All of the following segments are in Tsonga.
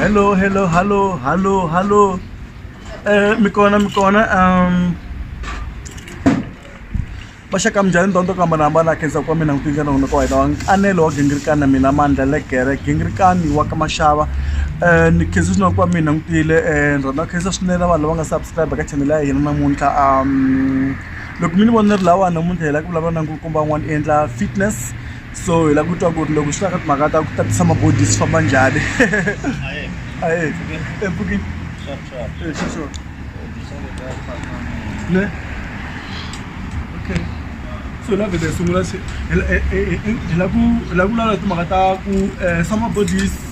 hello hello hello hello hello eh mi kona mi kona um va xaka minjhani ndhawu to ku hambanahambana khensa kwa mina n'witini xana n'wina ka wena wa nkanelo wa gingirikani na mina mandla legere gingirikani wa ka maxava um ni khensa swinene kwa mina n'witile um ni rhandza khensa swinene vanhu lava nga subscribe ka chanele ya hina namuntlha um loko mi ni vona ni ri lawa namuntlha hi lava ku vulavula na nkulukumba wun'wana i endla fitness so hi lava ku twa ku ri loko swi ta ka timhaka ta ku tatisa mabodi swi famba njhani aye empfukini ne okay so la vhele hi sungula se hi la ku hi la ku vulavula timhaka ta ku um summer bodies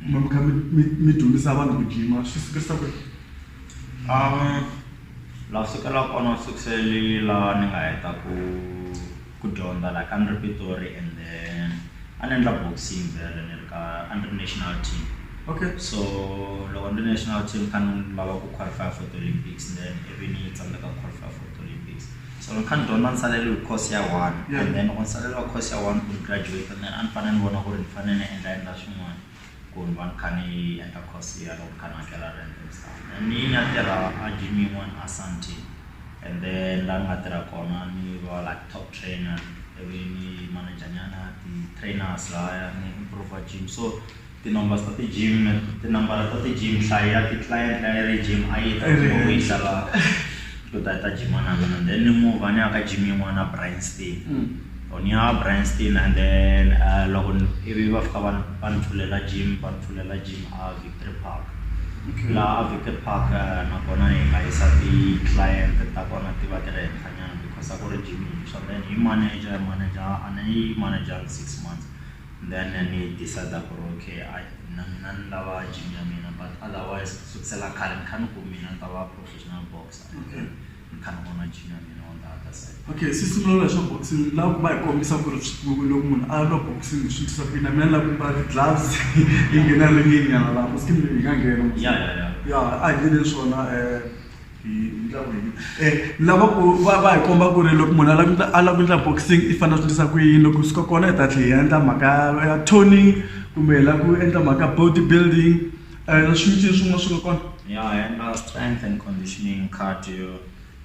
mi kha mi mi mi dyondzisa vanhu ku jima swi sukisa kwihi la sukela kona sukusele la ni nga heta ku ku dyondza la ka ni ri Pitori and then a ni endla boxing vhele ni ri ka a ni ri national team okay so loko ni ri national team kha ni lava ku qualify for ti-olympics then ivi ni tsandzeka ku qualify for ti-olympics. So ni kha ni dyondza nsalelo hi course ya one Yeah. and then loko nsalelo wa course ya one ku ni graduate and then a ni fanele ni vona ku ri ni fanele ni endla endla swin'wana ku ni va ni kha ni endla course ya loko ni kha ni hakela rent and stuff and ni ni ya tirha a gym yin'wana a santi and then la ni nga tirha kona ni va like top trainer ivi ni manager nyana ti-trainers laya ni improve gym so Tinombers ta ti gym tinambara ta ti gym nhlayo ya ti client leyi a yi ri gym a yi ta ku yi xava ku ta ta gym na mina then ni move a ni ya ka gym yin'wana a Bryanston or ni ya Bryanston and then loko ivi va fika va ni va ni pfulela gym va ni pfulela gym a Victory Park laha a Victory Park nakona hi nga yisa ti client ta kona ti va ti ri henhla nyana because a ku ri gym yintshwa then hi manager manager a ni yi manager six months Then ni decide ku ri okay I na mina ni lava gym ya mina but otherwise ku sukisela khale ni kha ni ku mina ni ta va professional boxer and then ni kha ni vona gym ya mina on the other side. Okay se sungula swa boxing ni lava ku va hi kombisa ku ri loko munhu a lwa boxing swi endlisa ku yini na mina ni lava ku mbala ti-gloves hi nghena ringini nyana laha masikwini hi nga nghena. Ya ya ya. Ya a hi endleni swona . lava ku va va hi komba ku ri loko munhu a lava a lava ku endla boxing i fanele a swi endlisa ku yini loko swi ka kona hi ta tlhela hi endla mhaka ya toning kumbe hi lava ku endla mhaka body building na swin'wana swin'wana swi nga kona ya hi endla strength and conditioning cardio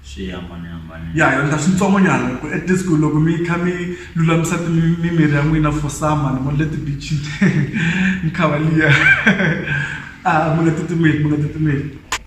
swi hambanahambanile ya hi endla swintsongo nyana ku at least ku loko mi kha mi lulamisa mimiri ya n'wina for summer ni vona le ti-beach-ini ni khava liya a mi nga titimeli mi nga titimeli.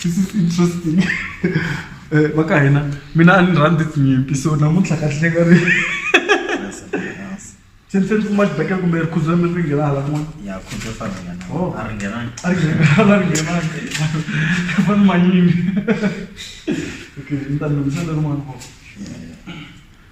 this is interesting Eh, va ka hina mina a ni rhandzi tinyimpi so namuntlha ka hlenga ri se ni se ni kuma xibekela kumbe rikhudzo mi ri nghena hala kun'wana ya khudza fa ringana Oh. a ringhenanga a ri nghenanga ri nghenanga fani manyingi okay ni ta lunghisa leri n'wana kona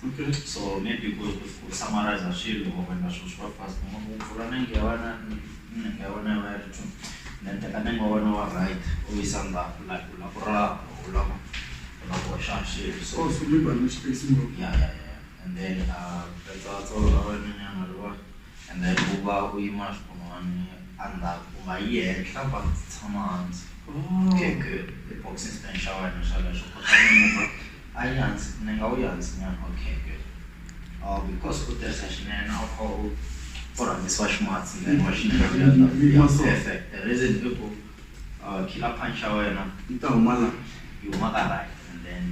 Okay. So maybe ku ku ku summarize swilo or when swilo swi va fast u u pfula nenge ya wena nenge ya wena yi va yi ri two then teka nenge wa wena wa right u yisa ndzhaku like u lava ku raha u lava u lava ku hoxa swilo so Oh, so leave an space in yeah, yeah, yeah. And then uh, that's also our nyana riwa. And then u va u yima xikun'wani endzhaku u nga yi henhla va tshama hansi. Oh. Okay, good. Boxing stand xa wena xa leswo kota ku move A yi hansi ni nga wu yi hansi nyana okay because u tirhisa xinene a wu kha u u rhangisiwa ximatsi then wa xi perfect the reason i ku killer punch ya wena yi ta huma la yi huma ka right and then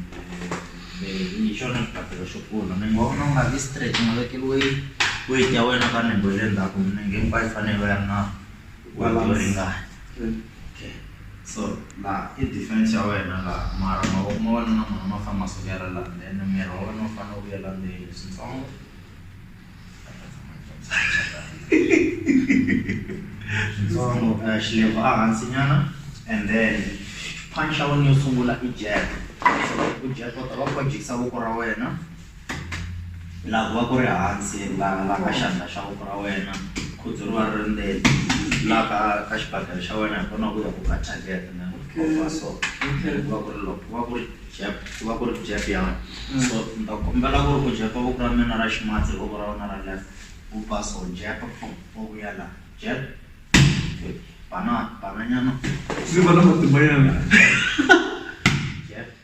hi xona xibakele xo kula mi nga vona u nga vi straight u nga vekeli weight weight ya wena ka nenge ya le ndzhaku nenge hinkwayo yi fanele yi va yi ri na. yo ringana okay so laha i defense ya wena laha mara mavoko ma wena na mona ma fane ma sukela laha then miri wa wena wu fane wu vuyela ndzeni switsongo switsongo eh, xilevo a hansi nyana and then punch ya wena yo sungula i jab so u jab u ta va u kha u jikisa voko ra wena Laha ku va ku ri hansi laha laha ka xandla xa voko ra wena khudzu ri va ri ri ndzeni laha ka ka xibakele xa wena hi kona ku ya ku ka target na khoma so then ku va ku ri loko ku va ku ri jab ku va ku ri jab ya wena so ni ta kombela ku ri u jab-a voko ra mina ra ximatsi hi voko ra wena ra left u ba so jab pfhum u vuya laha jab banana bananyana Ndzi va na matimbanyana. jab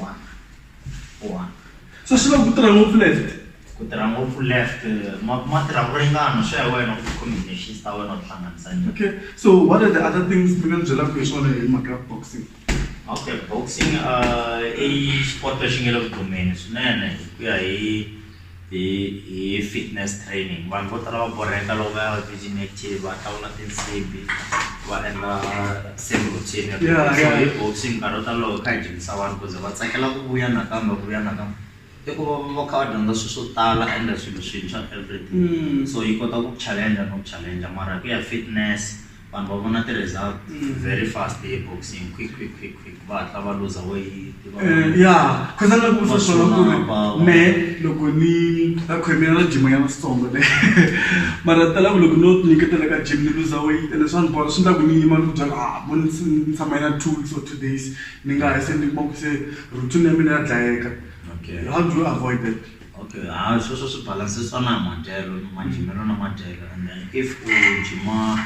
one one so swi lava ku tirha ngopfu left ku tirha ngopfu left ma ma tirha ku ringana swi ya wena ku combinations ta wena u hlanganisa njhani okay so what are the other things mi nga ni byelaka hi swona hi mhaka boxing okay boxing uh i sport lexi nge le ku dumeni swinene hi ku ya hi hi hi fitness training vanhu vo tala va borheka loko va ya virgin active va hlawula tinsimbhi va endla same routine every Yeah, day. so yeah. hi boxing nkarhi wo tala loko hi kha hi dyondzisa vanhu kuze va tsakela ku vuya nakambe ku vuya nakambe i ku va va kha va dyondza swilo swo tala ende swilo swintshwa everyday Mm. so yi kota ku challenge no challenge mara ku ya fitness vanhu va vona ti-result mm. very fast eboxing quick quick quick quick va hatla va luza weyiti eh, ya khaza na ku sasona ku ri me loko ni a khomela na jima ya masitsongo le mara tala ku loko no nyiketela ka jim ni luza weyiti ene swa ni bola swi ndla ku ni yima ni ku byala a ah, mo ni tshama yina two weeks or two days ni nga ha se ni kuma ku se routine ya mina ya dlayeka how do you avoid that Okay hayi sweswo swi balance-sa na hi madyelo ni madyimelo na madyelo and then if u jima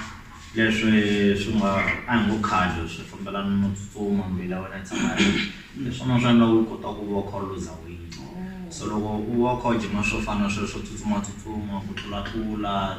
leswi swi nga a hi ngo cardio swi fambelana no tsutsuma mbilu ya wena yi tshama yi ri hi swona swi endlaku u kota ku va u kha u luza weight so loko u va u kha u jima swo fana na sweswo tsutsuma tsutsuma ku tlulatlula.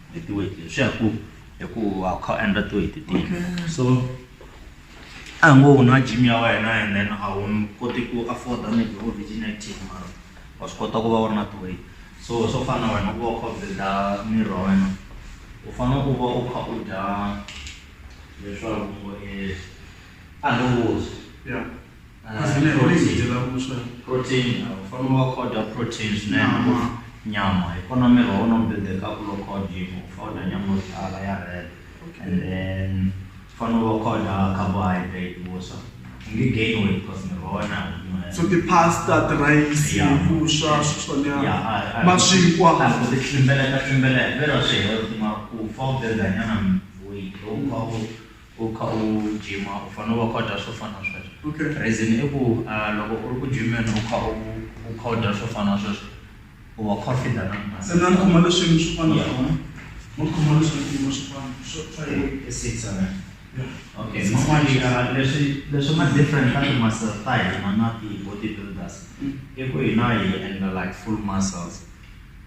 hi ti-weight leti swi ya hi ku hi ku wa kha u endla ti-weight tihi so a hi ngo u nwa gym ya wena and then a wu koti ku afforda maybe vo virgin active mara wa swi kota ku va u ri na ti-weight so swo fana na wena ku va u kha u builda miri wa wena u fanele u va u kha u dya leswaku a hi ngo u ya. protein fanele wa kota protein swinene nyama hi kona miri wa wona wu bebekaka loko dyiwa u fanele dya nyama yo tala ya red and then fanele wa kota carbohydrate vuswa u nge gain weight because miri wa wona so ti-pasta tirayisi vuswa switswanyana maswikwa ku ti tlimbeleka tlimbeleka vero swi health ma ku fa u bebanyana weight lowukulu U kha u jima u fanele u va kha u dya swo fana na sweswo Okay. reason i ku ah, loko u ri ku jimeni u kha u u kha u dya swo fana na sweswo u va u kha u fida na mali. Se na khoma leswi swo fana Yeah. swona. No khoma leswi swiyimo swo fana swo swa yena. I six alright. Yeah. Okay, man'wani ya leswi leswi nga different ka ti-muscle ta hina na ti-body builders i ku hina hi endla like full muscles.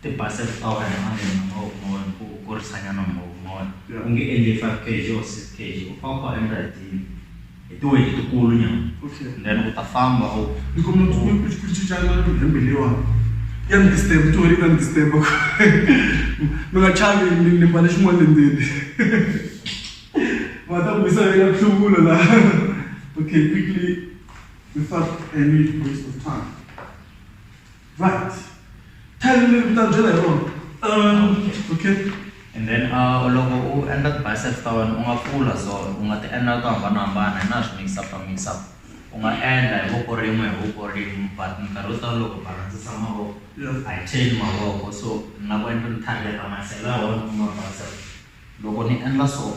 Ti base flower ya malembe mo more ku kurisa nyana mo more Yeah. u nge endli 5 kg or 6 kg u fane u kha u endla hi ti hi ti weight tikulu nyana Okay. and then u ta famba u Ni kuma ku ku ku ku cincana na hembe leyiwani. Ya ni disturb, ti wena yi ta ni disturb. Mi nga chavi ni ni mbale xin'wana le ndzeni. Va ta ku yisa eka nhluvulo la. Okay, quickly without any waste of time. Right. Tell me little bit of Jedi Road. Um, okay. And then uh, loko u endla ti-bicep ta wena u nga pfula so u nga ti endla to hambanahambana hi na swi mix up ta mix up u nga endla hi voko rin'we hi voko rin'we but minkarhi yo tala loko balandzisa mavoko a yi chain mavoko so na ku endla ni target masela ya wena kuma bicep loko ni endla so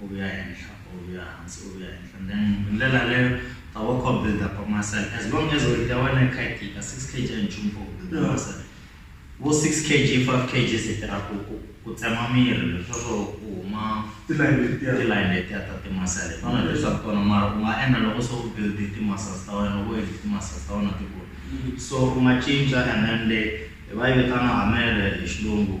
u vuya henhla u vuya hansi u vuya henhla and then hi ndlela yaleyo ta wa kha u build up muscle as long as weight ya wena yi kha yi tika six kg a yi nchumu for ku build up muscle vo six kg five kg se tirha ku ku ku tsema miri leswaku ku huma tilayini letiya tilayini letiya ta timasele tona leswaku tona mara u nga endla loko se u build ti-muscles ta wena loko endli ti-muscles ta wena ti kula so u nga cinca and then le hi va yi vitana hamele hi xilungu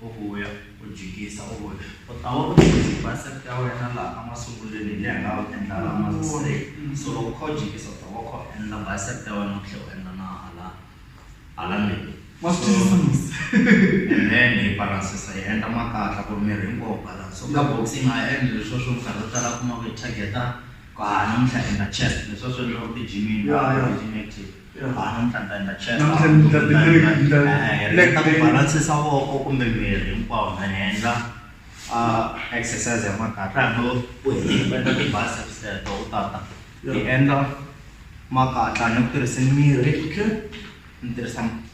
U vuya, u jikisa, u vuya. U ta va u tirhise ti-bicep ta wena laha a masungulweni hi laha u endlaka ha kona straight. So loko u kha u jikisa u ta va u kha u endla bicep ta wena u tlhela u endla na hala hala ndzeni. Wa swi twisisa musa? And then hi balance-sa hi endla makatla ku ri miri hinkwawo wu balance. So ka box hi nga ha endli leswiya swo minkarhi yo tala u kuma ku hi target-a ku haha namuntlha hi endla chest, leswiya swi endliwaka ti-gym-ini, gym active. balance-isa voko kumbe miri hinkwawo na endla exercise ya makatla no u endla ti-biceps teto u tata hi endla makatla ni ku tirhisa miri ni tirhisa.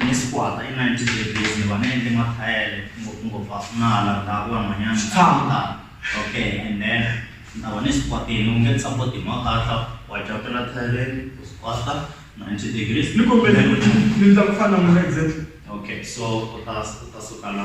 Ni squat-a hi 90 degrees ni va ni endle mathayele ngopfungopfu a swi na la ndhawu yan'wanyana tshama okay and then ni ta va ni squat-ini u nge ni support hi makatla wa jump-ela thayeleni u squat-a 90 degrees ni kombela ni ni ndla ku fana na n'wina exactly okay so u ta u ta suka la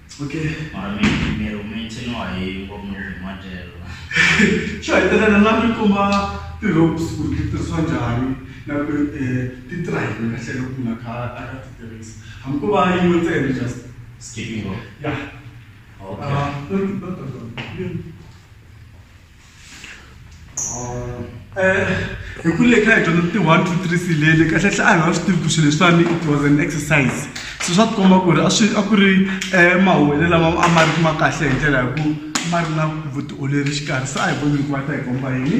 Okay. Mara mi miri umechiniwa hii kwa mnuvi matelo. Sure, tena na lami kuma ti ropes ku ti tirhisiwa njhani na ku eh ti tirha hi ka tlhelo ku na ka a ka ti tirhisa. Hambi ko va yin'we ntsena just. Skipping rope. Yeah. Okay. Ah, no, no, no, no. hi ku le kha hi dyondza ti one two three silele kahle hle a hi nga swi tivi ku swilo leswiwani it was an exercise se swa tikomba ku ri a swi a ku ri um mahowele lama a ma ri kuma kahle hi ndlela hi ku ma ri na vutiolori xikarhi se a hi vonile ku va ta hi komba yini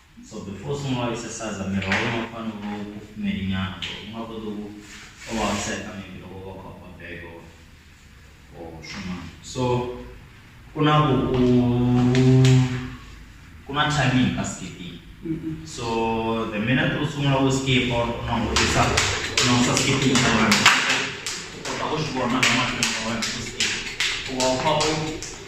so before se nga exercise miri wa wena wu fanele wu va wu kufumelinyana so u nga koti ku u vaviseka maybe loko u va kha u ba bag or or swin'wana so ku na ku u ku na timing ka skipping so the minute u sungula ku skip or u langutisa u langusa skipping ya wena u kota ku swi vona na mahlweni ya wena ku skip u va u kha u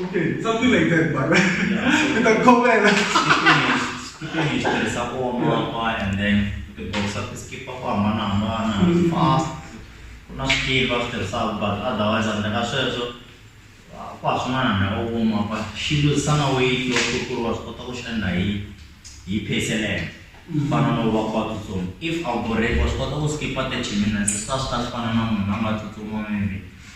Okay, something like that, but with a comment. Skipping is the support and then the box up is keep up on one fast. Kuna skill after sub, but otherwise, and then I said so. Kwa sumana na ogo mapa, shindo sana wei yo kukuru wa spota kushanda hii, hii pace element. Fana no wa kwa tutum. If our break was spota kuskipa te chimina, sasa sasa fana na mwana tutum wa mimi.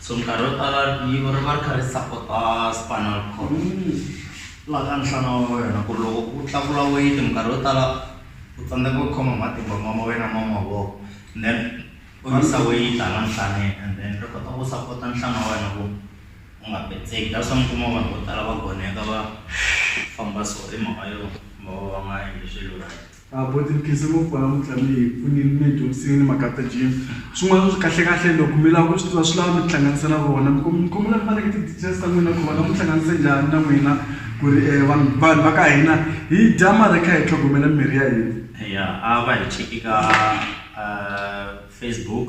so minkarhi yo tala rivilo ri va ri kha ri sapota spinal cord laha ka nhlana wa wena ku ri loko u tlakula weyiti minkarhi yo tala u tsandzeka ku khoma matimba ma ma wena ma mavoko then u yisa weyiti hala nhlaneni and then ri kota ku sapota nhlana wa wena ku u nga petseki that's why mi kuma vanhu vo tala va goneka va famba so hi mhaka yo va va va nga endli swilo right. Abuti Mkhize kwala Mutlamini hi pfunile mi hi dyondzisile ni mhaka ta gym swin'wana swi kahle kahle loko mi lava ku swi tiva swi lava mi tihlanganisa na vona mi mi kombela mi va nyika ti-details ta n'wina ku va nga mi hlanganise njhani na n'wina ku ri vanhu vanhu va ka hina hi dya mara hi kha hi tlhogomela mirhi ya hina ya a va hi cheki ka Facebook.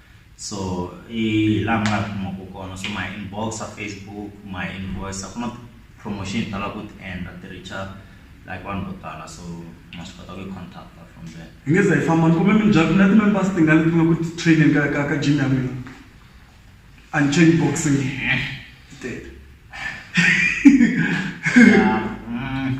so hi laha mi nga kumaka kona so my inbox a facebook my invoice a ku na promotion hi tala ku ti endla ti richa like vanhu vo tala so ma swi kota ku yi contacta from there hi nge za hi famba ni kumbe minjhani na ti-members tingani leti nga ku ti-training ka ka ka gym ya n'wina unchain boxing tete Yeah, mm,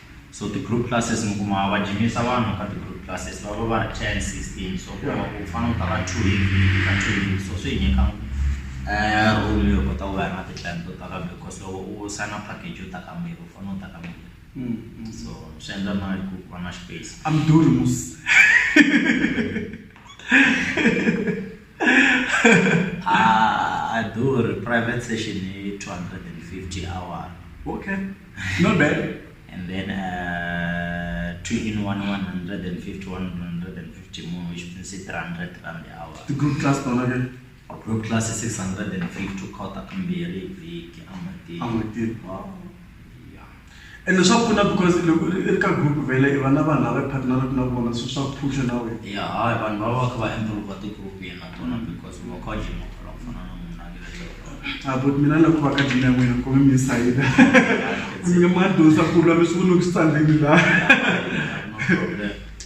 so ti group classes mi kuma va jimisa vanhu ka ti group classes va va va ri ten sixteen so ku hava ku fana u ta va two hi vhiki ka two hi so swi hi nyika um role yo kota ku va na ti-client to ta kambe because loko u sign-a package yo ta kambirhi u fanele u ta kambirhi mm, mm. so swi endla na ku va na space i'm doing mus a durhi private session hi two hundred and fifty hour okay Not bad. And then uh, two in one, 150, 150 more, which means 300 rand the hour. The group class plan again? Group class is 650 kota kumbiri viki amati. Amati. Wow. Yeah. And swa pfuna because loko ri ka group vele i vana vanhu lava partneraka na vona so swa phusha na wena ya hayi vanhu va va kha va improve ti-group yena tona because va kha jima khala ku fana na munhu na le tlhelo abuti mina ni lava ku va ka dini ya n'wina ku mi sayina mi nga ma dyondzisa ku lwa leswi ku ni ku swi tsandzeni laha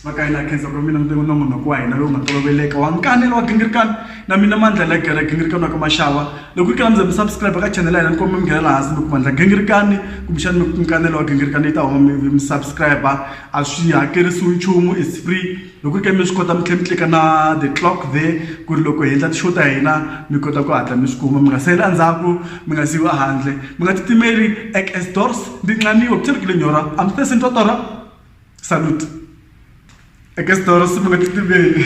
va ka yini a khensa ku mina ni na munhu wa hina lowu nga toloveleka wa nkani lowa gingirikani na mina mandla la gere gingirikani wa ka maxava loko yi kala mi za mi subscribe ka channel ya hina ni komba mi nghenela hansi mi ku mandla gingirikani kumbexani mi nkanelo wa gingirikani yi ta huma mi mi subscribe a swi hakerisiwi nchumu is free loko ri ka mi swi kota mi tlhela mi tleka na the clock the ku ri loko hi endla ti-show ta hina mi kota ku hatla mi swi kuma mi nga sali endzhaku mi nga siyiwi ehandle mi nga titimeli ek as doors ndi nqaniwa ku thelekile nyora a mi tese ntotora salute ek as doors mi nga titimeli